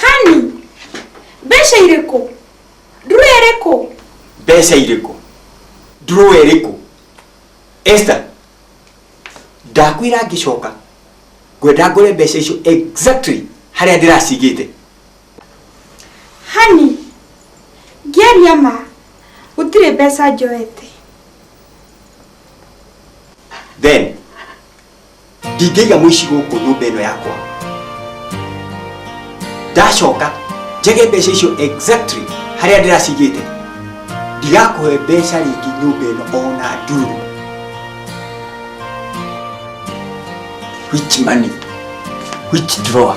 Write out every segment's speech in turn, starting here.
hani mbeca irĩkũ nduru ĩrĩkũ mbeca irĩkũ ndurũwa ĩrĩkũ esta ndakwĩra ngĩcoka ngwenda ngore mbeca icio exactly harĩa ndĩracigĩte hani ngĩaria ma gũtirĩ mbeca njoete then ndingĩiga mũici gũkũ nyũmba ĩno yakwa ndacoka njage mbeca icio exactly harĩa ndĩracigĩte ndigakũhe mbeca rĩngĩ nyũmba ĩno ona nduru which money which drawer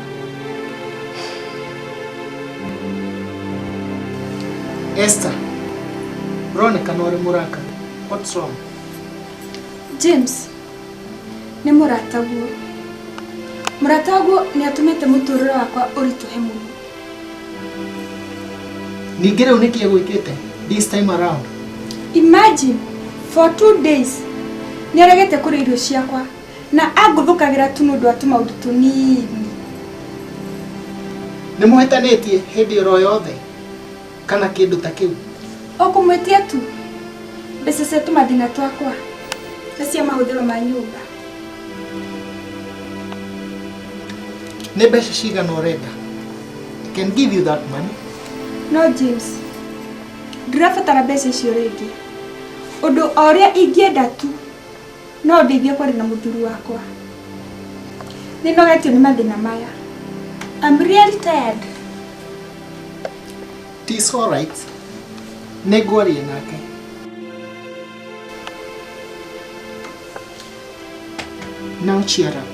Esther, uroneka nori muraka. What's wrong? james nĩ mũrata guo mũrata guo nĩ atũmĩte mũtũrĩre wakwa ũritũhe mũno Ningĩ rĩu nĩkĩ gwĩkĩte this time around? imagine for two days nĩ aregete kũrĩa irio ciakwa na angũthũkagĩra tu nĩ ũndũ wa tũmaũndũ tũnini nĩ mũhĩtanĩtie hĩndĩ oro yothe kana kĩndũ ta kĩu o kũmwĩtia tu mbeca cia tũmathĩna twakwa na cia mahũthĩro ma nyũmba nĩ mbeca cigana ũrenda I can give you that money no james ndirabatara mbeca icio rĩngĩ ũndũ o ũrĩa ingĩenda tu No ndeithie kwaria na mũthuri wakwa. Nĩnogetio nĩ mathĩna maya. I'm really tired. It's all right. Nĩngwaria nake. Now cheer up.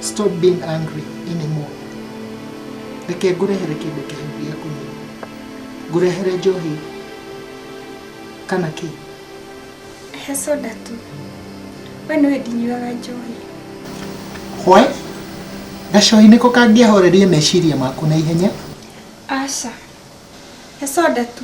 Stop being angry anymore. Reke ngũrehere kĩndũ kĩhehu gĩa kũnyua. Ngũrehere njohi kana kĩĩ? He soda tu. We nĩwe ndinyuaga njohi. Hwe? Gacohi nĩko kangĩahoreria meciria maku na ihenya? Aca. He soda tu.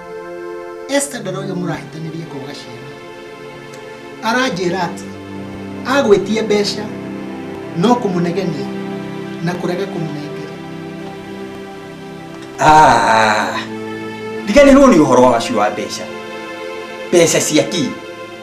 Esther ndara ũyũ mũrahĩtanĩria kwaga ciana aranjĩra atĩ agwĩtie mbeca no kũmũnegenia na kũrega kũmũnengera Ah, ndiganĩrwo nĩ ũhoro wa waci wa mbeca mbeca cia kii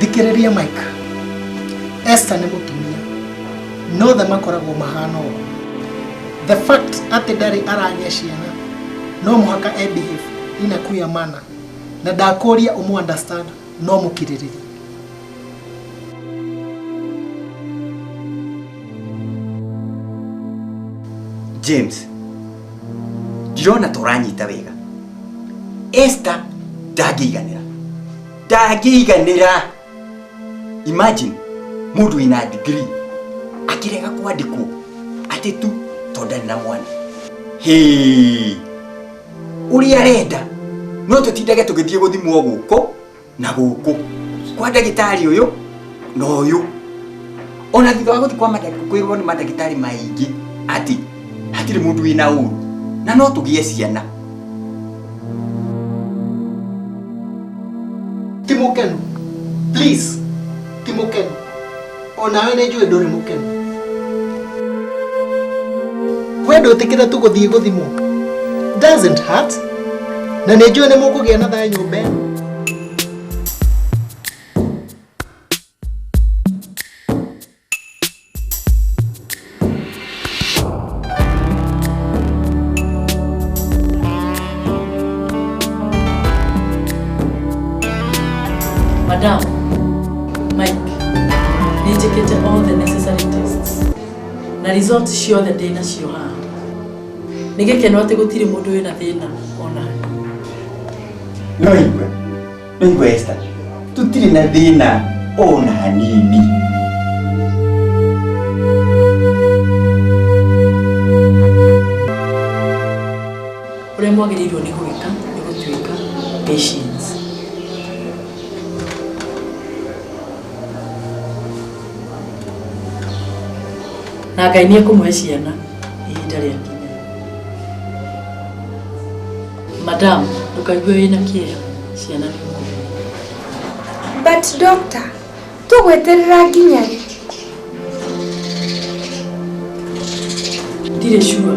thikĩrĩria mike esta nĩ mũtumia no othe makoragwo mahana ũũ the fact atĩ ndarĩ aragĩa ciana no mũhaka ebehave ina kuya mana na ndakũria ũmũ understand no mũkirĩrĩria james ndirona tũranyita wega esta ndangĩiganĩra ndangĩiganĩra imagine mũndũ wĩna degree akĩrega kwandĩkwo atĩ tu tondũ ndarĩ na mwana Hĩĩ. ũrĩa arenda no tũtindage tũgĩthiĩ gũthimwo gũkũ na gũkũ kwa ndagĩtarĩ ũyũ na ũyũ ona thutha wa gũthi kwa mandagĩtarĩ kwĩrwo nĩ mandagĩtarĩ maingĩ atĩ hatirĩ mũndũ wĩna ũru na no tũgĩe ciana timũkenu please timũkenu o nawe nĩ njũĩ ndũrĩ mũkenu we ndwĩtĩkĩre tu gũthiĩ gũthimwo doesn't hurt na nĩ njũĩ nĩ mũkũgĩa na thayũ nyũmba ĩno Madam, Mike, nĩ njĩkĩte all the necessary tests na result ciothe ndĩ nacio haha. Nĩ gĩkeno atĩ gũtirĩ mũndũ wĩna thĩna ona ha. No igue. Westa, tutiri na thina ona hanini. Ũrĩa mwagĩrĩirwo nĩ gwĩka nĩ gũtuĩka patience. Na Ngai nĩ ekũmũhe ciana ihinda rĩakinya. Madam, ndũkaigue wĩna kĩeha ciana nĩ ngũrũ. But doctor, tũgweterera nginya rĩ? Ndirĩ sure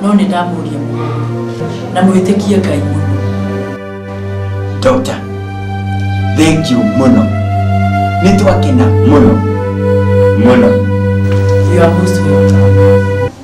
no nĩ ndamũria mũno na mwĩtĩkie Ngai mũno. Doctor, thank you mũno. Nĩ twakena mũno mũno. You are most welcome.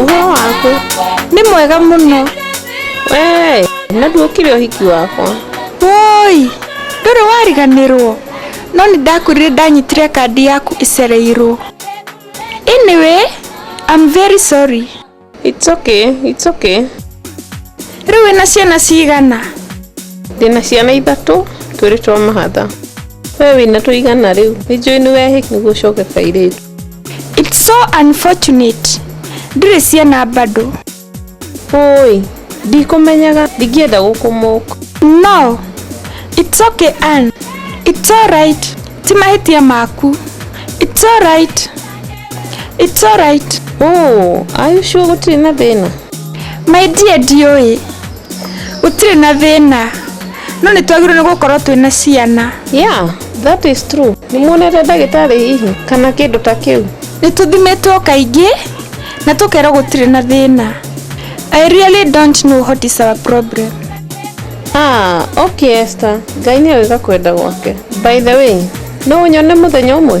ũhoro waku nĩ mwega mũno Wee, na nduokire ũhiki wakwa woi ndũrĩ wariganĩrwo no nĩ ndakwĩrire ndanyitire kandi yaku ĩcereirwo anyway I'm very sorry It's okay, it's okay. Rĩu wĩna ciana cigana? Ndĩna ciana ithatũ, twĩrĩ twa mahatha. We wĩna tũigana rĩu? Nĩ njũĩ nĩ wehĩk nĩguo ũcoke kairĩtu. It's so unfortunate. Ndĩrĩ ciana bado. Oi, ndikũmenyaga, ndingĩenda gũkũmũka. No, it's okay Ann. It's alright. Ti mahĩtia maku. It's alright. It's alright. Oh, are you sure gũtirĩ na thĩna? My dear ndiũĩ. Gũtirĩ na thĩna. No nĩ twagĩrĩirwo nĩ gũkorwo twĩ na ciana. Yeah, that is true. Nĩ muonete ndagĩtarĩ hihi kana kĩndũ ta kĩu? Nĩ tũthimĩtwo kaingĩ na tũkerwo gũtirĩ na thĩna. I really don't know what is our problem. Ah, okay Esther. Ngai nĩ oĩ gakwenda gwake. By the way, no ũnyone mũthenya ũmwe?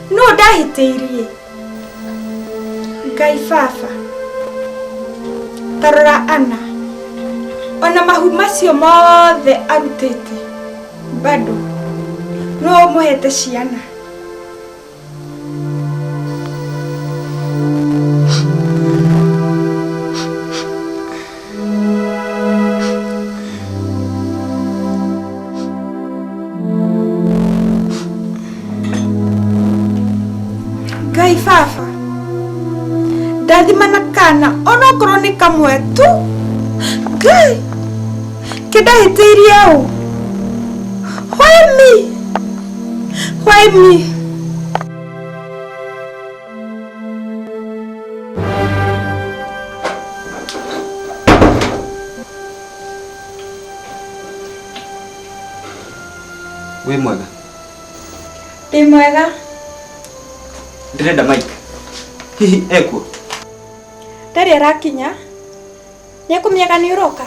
no ndahĩtĩirie ngai baba tarora ana ona mahu macio mothe arutĩte bado no ũmũhete ciana ngai baba ndathimana kana onokorwo nĩ kamwe tu ngai kĩndahĩtĩirie ũ why me why me wĩ mwega Ndĩ mwega. ndĩrenda mike hihi ekuo Ndarĩ arakinya. Nĩekũmĩaga nĩ ũroka.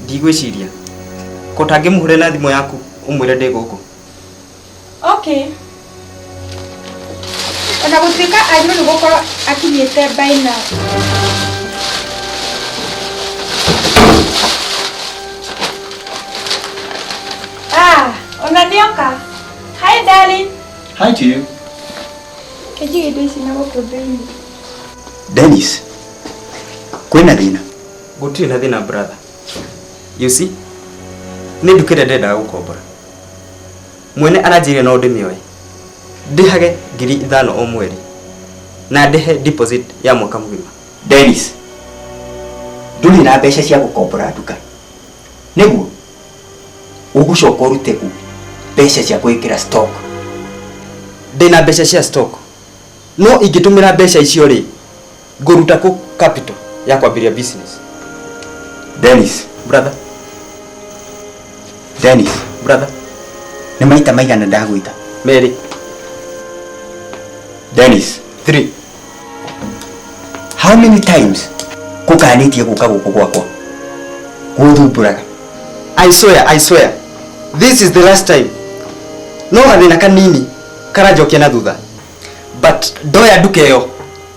ndigwĩciria ko tangĩmũhũre na thimũ yaku ũmwĩre ndĩ gũkũ okay ona gũtuĩka agĩrĩirwo nĩ gũkorwo akinyĩte by now Ah, ona nĩoka hi darling Hi to you. kĩnjigĩ indo ici na gũkũ thĩinĩ Dennis, kwĩna thĩna? Gũtirĩ na thĩna brother. You see? Nĩ nduka ĩrĩa ndendaga gũkombora. Mwene aranjĩrire no ndĩmĩoe ndĩhage ngiri ithano o mweri na ndĩhe deposit ya mwaka mũgima. Dennis, ndũrĩ na mbeca cia gũkombora nduka nĩguo ũgũcoka ũrute kũ mbeca cia gwĩkĩra stock? Ndĩna mbeca cia stock no ingĩtũmĩra mbeca icio rĩ? ngũruta kũ capital ya kwambĩria business Dennis, brother Dennis, brother nĩ maita maigana ndagwĩta merĩ Dennis, three how many times kũkanĩtie gũka gũkũ gwakwa gũthumbũraga I swear, I swear. This is the last time. No gathĩna kanini karanjokia na thutha. but ndoya nduka ĩyo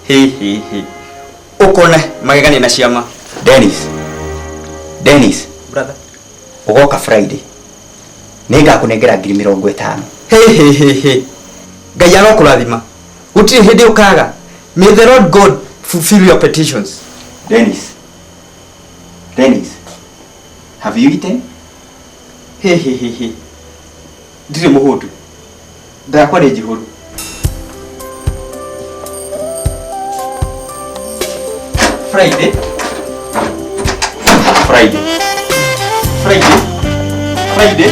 hihihi ũkone magegania na ciama Dennis. Dennis. Brother. Ugoka Friday. Nĩngakũnengera ngiri mĩrongo ĩtano. hehehehe ngai arokũrathima gũtirĩ hĩndĩ ũkaga may the lord god fulfill your petitions Dennis. Dennis. Have you eaten? hehehehe ndirĩ mũhũtu nda yakwa nĩ njihũru Friday Friday Friday Friday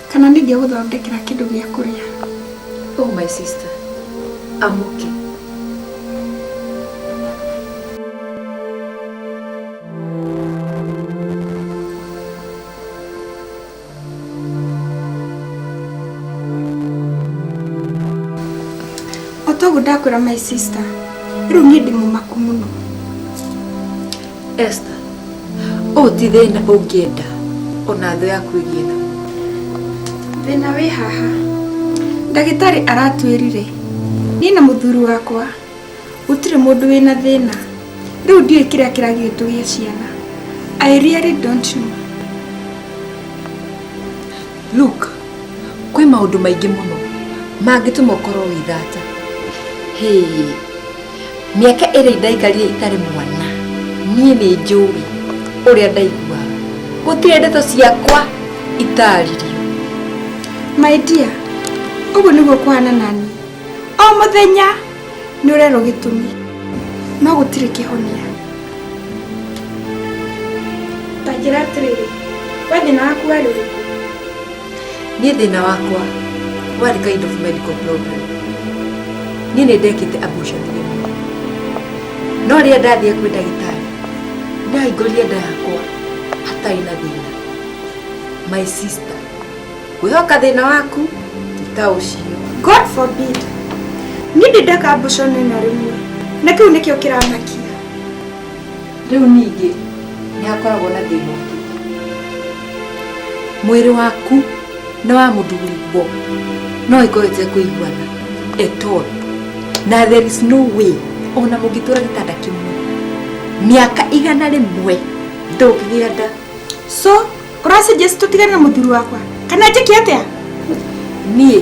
Kana ningĩgũthondekera kĩndũ gĩa kũrĩa. Oh my sister, I'm okay. Otoguo ndakwĩra my sister, rĩu niĩ ndĩ mũmaku mũno. Esther, ũũ ti thĩna ũngĩenda ona thũ yaku ĩgĩetha. Thĩna wĩ haha. Ndagĩtarĩ aratwĩrire niĩ na mũthuri wakwa gũtirĩ mũndũ wĩna thĩna. Rĩu ndiũĩ kĩrĩa kĩragiĩ tũgĩe ciana. I really don't know. Luke, kwĩ maũndũ maingĩ mũno mangĩtũma ũkorwo wĩ thata. Hĩĩ. mĩaka ĩrĩa ndaikarire itarĩ mwana niĩ nĩ njũĩ ũrĩa ndaiguaga gũtirĩ ndeto ciakwa itaririo my dear ũguo nĩguo kũhana nani o mũthenya nĩ ũrerwo gĩtũmi no gũtirĩ kĩhonia tanjĩra atĩrĩrĩ we thĩna waku warĩ ũrĩkũ Niĩ thĩna wakwa warĩ kind of medical problem. Niĩ nĩ ndekĩte abortion rĩmwe. No rĩrĩa ndathiĩ kwĩ ndagĩtarĩ, ndahingũrire nda yakwa hatarĩ na thĩna. My sister, kwĩhoka thĩna waku ti ta ũcio. God forbid. Niĩ ndĩ ndeka abortion ĩno rĩmwe. Na kĩu nĩkĩo kĩramakia. rĩu ningĩ nĩ hakoragwo na thĩna ũngĩ mwĩrĩ waku na wa mũthuri bo no ĩkorwo ĩte kũiguana at all na there is no way ona mũngĩtũra gĩtanda kĩmwe mĩaka igana rĩmwe ndũngĩgĩa nda so ũrasuggest tũtigane na mũthuri wakwa kana njĩke atĩa niĩ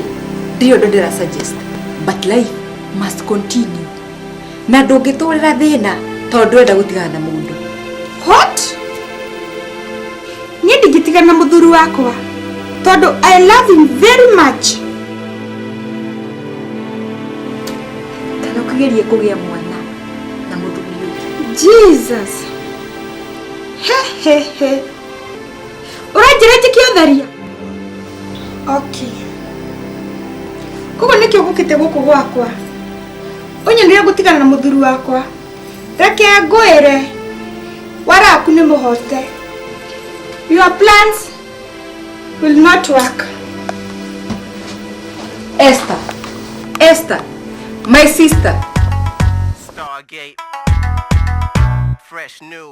ndirĩ ũndũ ndĩra suggest but life must continue na ndũngĩtũrĩra thĩna tondũ ndwenda gũtigana na mũndũ what niĩ ndingĩtigana na mũthuri wakwa tondũ i love him very much kana ũkĩgerie kũgĩa mwana na mũthuri ũngĩ jesus hehehe ũranjĩra njĩke ũtheria okay koguo nĩkĩo gũkĩte gũkũ gwakwa ũnyendeire gũtigana na mũthuri wakwa reke ngwĩre waraku nĩ mũhote your plans will not work Esther, Esther, my sister. Stargate. Fresh new.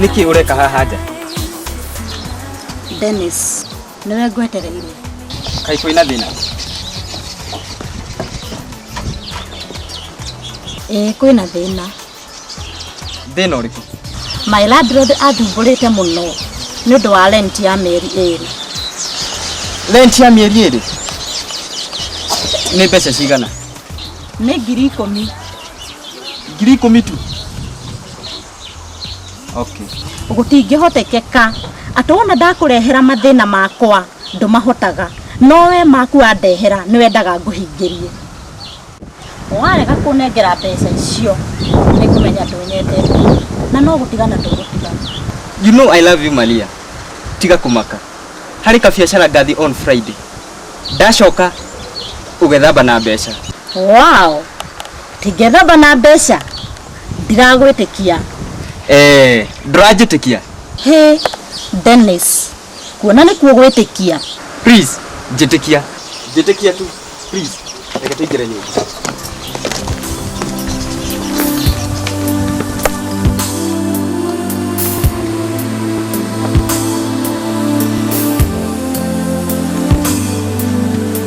niki ureka haha nja Dennis niwe ngwetereire kai kwina thina ĩĩ kwĩna thĩna thina uriku my landlord athumbũrĩte mũno nĩ ũndũ wa rent ya mĩeri ĩrĩ rent ya mieri iri ni mbeca cigana nĩ ngiri ikũmi ngiri ikumi tu okay gũtingĩhotekeka atĩ wona ndakũrehera mathĩna makwa ndũmahotaga no we maku wandehera nĩ wendaga ngũhingĩrie warega kũnengera mbeca icio nĩ kũmenya ndũnyendete na no gũtigana tũgũtigana You know I love you Maria. Tiga kumaka. Harĩ kabiacara ngathi on Friday. Ndacoka ũgethamba na mbeca. wow Ingethamba na mbeca ndiragwĩtĩkia. Eeh ndũranjĩtĩkia? Hey Dennis, kuona nĩ kuo gwĩtĩkia. Please njĩtĩkia. Njĩtĩkia tu please. Reke tũingĩre nyũmba.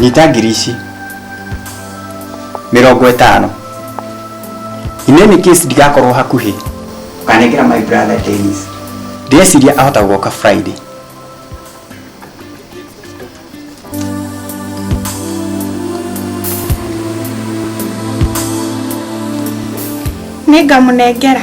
nyita ngiri ici mĩrongo ĩtano in any case ndigakorwo hakuhĩ ũkanengera my brother Dennis ndĩreciria ahota gũka Friday nĩngamũnengera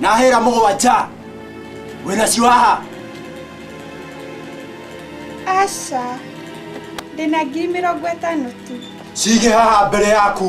nahera mũgwanja wĩnacio haha aca ndĩna ngiri mĩrongo ĩtano tu cige haha mbere yaku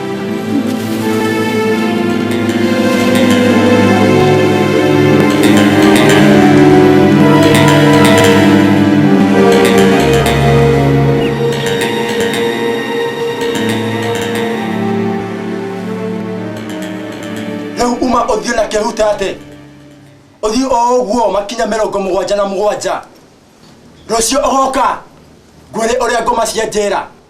rĩu uma ũthiĩ na kĩhuta atĩ ũthiĩ o ũguo makinya mĩrongo mũgwanja na mũgwanja rũciũ ũgoka ngwĩrĩ ũrĩa ngoma cia njĩra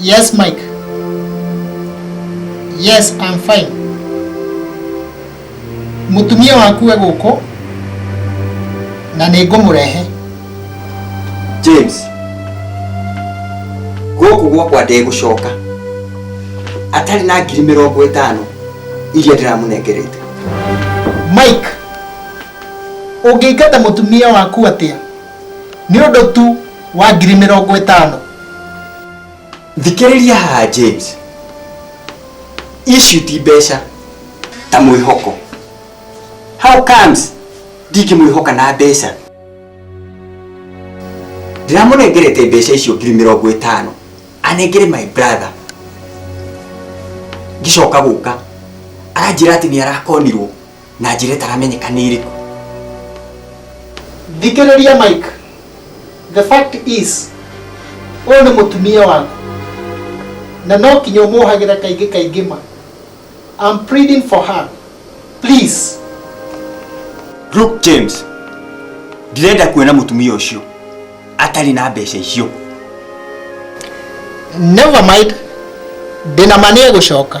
Yes, Mike. Yes, I'm fine. Mutumia waku we guku na nä ngå må rehe james gũkũ gwakwa ndegũcoka atarĩ na ngiri mĩrongo ĩtano iria ndĩramũnengerete mike å ngä ingata må tumia waku atä a nĩ ũndũ tu wa ngiri mĩrongo ĩtano thikĩrĩria haha james ici ti mbeca ta mwĩhoko how comes ndingĩmwĩhoka na mbeca ndiramũnengerete mbeca icio ngiri mĩrongo ĩtano anengere my brother ngĩcoka gũka aranjĩra atĩ nĩ arakonirwo na njĩra ĩtaramenyeka nĩ ĩrĩkũ thikĩrĩria mike the fact is ũyũ nĩ mũtumia waku na no kinya ũmũhagĩra kaingĩ kaingĩ ma I'm pleading for her please Luke James, ndirenda kuona mũtumia ũcio atarĩ na mbeca icio. never mind ndĩna ma nĩ egũcoka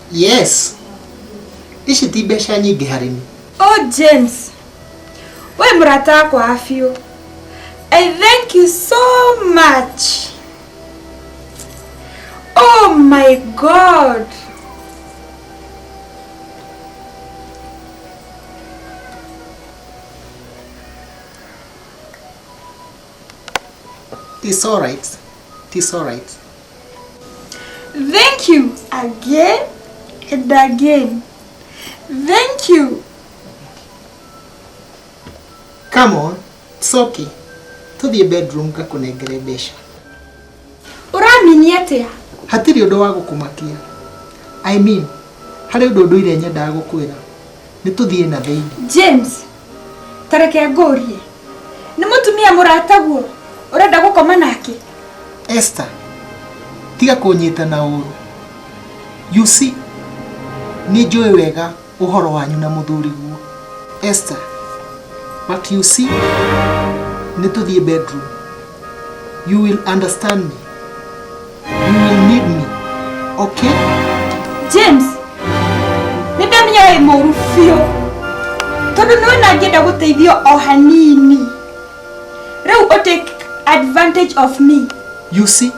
yes ici ti mbeca nyingĩ harĩ niĩ Oh James, we mũrata wakwa wa biũ. I thank you so much. Oh my God. It's alright. It's alright. Thank you again and again. Thank you. Come on, it's okay. To the bedroom ngakunengere mbeca. Ũramini atĩa? Hatirĩ ũndũ wa gũkũmakia. I mean, harĩ ũndũ ũndũire nyendaga gũkwĩra. Nĩ tũthiĩ na thĩinĩ. James, tareke ngũrie nĩ mũtumia mũrataguo ũrenda gũkoma nake Esther tiga kũnyita na ũru you see nĩ njũĩ wega ũhoro wanyu na mũthuri guo Esther but you see nĩ tũthiĩ bedroom you will understand me You will need me. Okay? James, nĩndamenya wĩ mũru biũ tondũ nĩwe nangĩenda gũteithio o hanini rĩu ũ take advantage of me You see,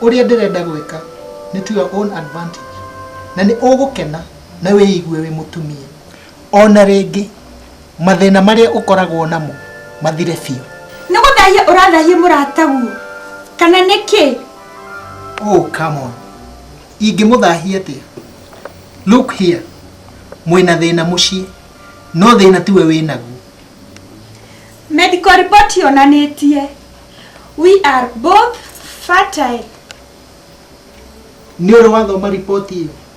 ũrĩa ndĩrenda gwĩka nĩ to your own advantage. Na nĩ ũgũkena na wĩigue wĩ mũtumia. ona rĩngĩ mathĩna marĩa ũkoragwo namo mathire biũ nĩ gũthahia ũrathahia mũrata guo kana nĩ kĩ oh come on ingĩmũthahia atĩa look here mwĩna thĩna mũciĩ no thĩna tiwe wĩnaguo medical report yonanĩtie we are both fertile nĩ ũrĩ wathoma riboti ĩyo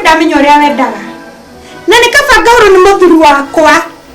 ndamenya ũrĩa wendaga na nĩ kabanga ũrũ nĩ mũthuri wakwa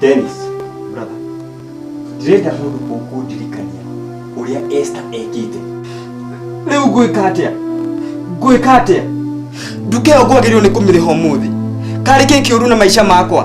Dennis, brother, ndirenda mũndũ mũkũndirikania ũrĩa Esther ekĩte. Rĩu ngwĩka atĩa? Ngwĩka atĩa? Nduka ĩyo ngwagĩrĩirwo nĩ kũmĩrĩha ũmũthĩ. Karĩ kĩ kĩũru na maica makwa?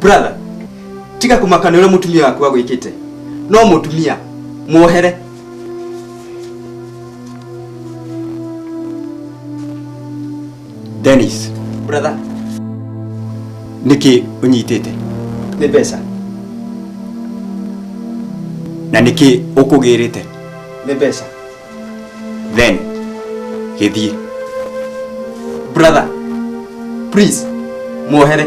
brother tiga kumakana uria mutumia waku agwikite no mutumia muohere Dennis, brother nĩkĩ ũnyitĩte ni mbeca na nĩkĩ ũkũgĩrĩte ni mbeca then gĩthiĩ brother please muohere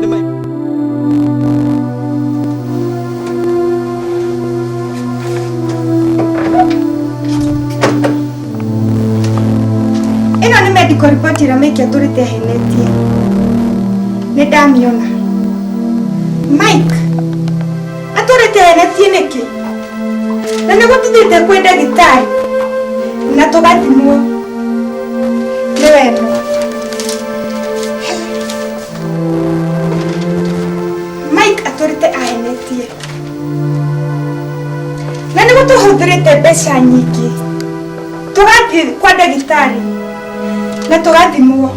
Nĩ mai- ĩno nĩ medical report ĩrĩa maikia tũrĩte ahenetie nĩ ndamĩona mike atũrĩte ahenetie nĩkĩ na nĩ gũtithĩte kwĩ ndagĩtarĩ na tũgathimwo nĩ wendo mike atũrĩte ahenetie na nĩ gũtũhũthĩrĩte mbeca nyingĩ tũgathiĩ kwa ndagĩtarĩ na tũgathimwo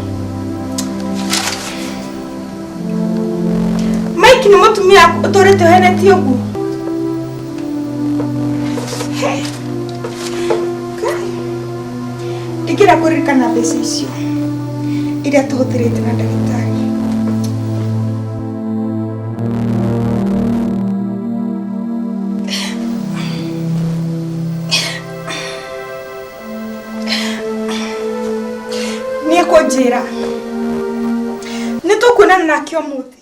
mike nĩ mũtumia ũtũrĩte ũhenetie ũguo Hey. ndikira kuririkana mbeca icio iria tũhũthĩrĩte na ndagĩtarĩ nĩ ekũnjĩra nĩ tũkuonana nake ũmũthĩ